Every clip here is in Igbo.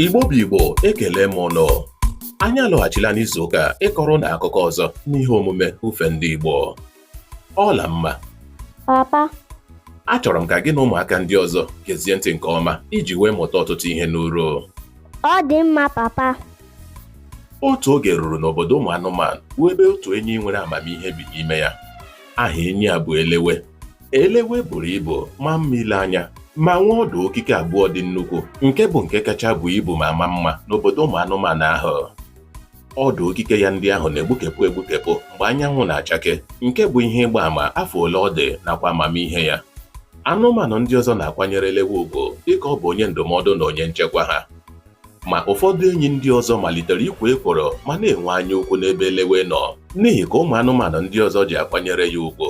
Igbo bụ Igbo ekele m ụnụ anyị alọghachila n'izu ụka a ịkọrọ ụnụ akụkọ ọzọ n'ihe omume ufe ndị Igbo Ọlamma papa achọrọ m ka gị na ụmụaka ndị ọzọ gezie ntị nke ọma iji wee mụta ọtụtụ ihe n'uru ọ dị mma papa otu oge ruru n'obodo ụmụ anụmanụ bụ ebe otu enyi nwere amamihe bi n'ime ya aha enyi a bụ elewe elewe buru ibu maa mma ile anya ma nwee ọdụ okike abụọ dị nnukwu nke bụ nke kacha buo ibu ma maa mma n'obodo ụmụ anụmanụ ahụ ọdụ okike ya ndị ahụ na-egbukepụ egbukepụ mgbe anyanwụ na-achake nke bụ ihe ịgba ama afọ ole ọ dị nakwa amamihe ya anụmanụ ndị ọzọ na-akwanyere elewe ugwu dịka ọ bụ onye ndụmọdụ na onye nchekwa ha Ma ụfọdụ enyi ndị ọzọ malitere ikwo ekworo ma na-enwe anya ukwu n'ebe Elewe nọ n'ihi ka ụmụ anụmanụ ndị ọzọ ji akwanyere ya ugwu.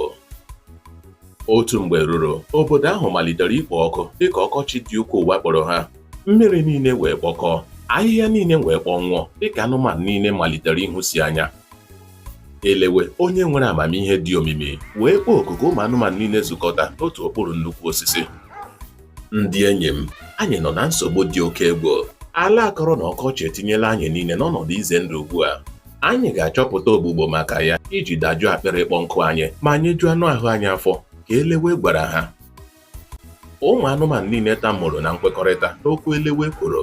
Otu mgbe ruru, obodo ahụ malitere ikpo ọkụ dịka ọkọchị dị ukwuu wakporo ha. Mmiri niile wee kpọkọọ, ahịhịa niile wee kpọnwụọ dịka anụmanụ niile malitere ịhụsi anya. elewe onye nwere amamihe dị omimi wee kpọọ oku ka ụmụ anụmanụ niile zukọta n'otu okpuru nnukwu osisi ndị enyi m anyị nọ na nsogbu dị oke egwu ala akọrọ na ọkọchị etinyela anyị niile n'ọnọdụ ize ndụ ugbu a anyị ga-achọpụta ogbugbo maka ya iji dajụọ akpịrị ịkpọ nkụ anyị ma nyejuo anụ ahụ anyị afọ ka elewe gwara ha ụmụ anụmanụ niile tamụrụ na nkwekọrịta n'okwu elewe kwuru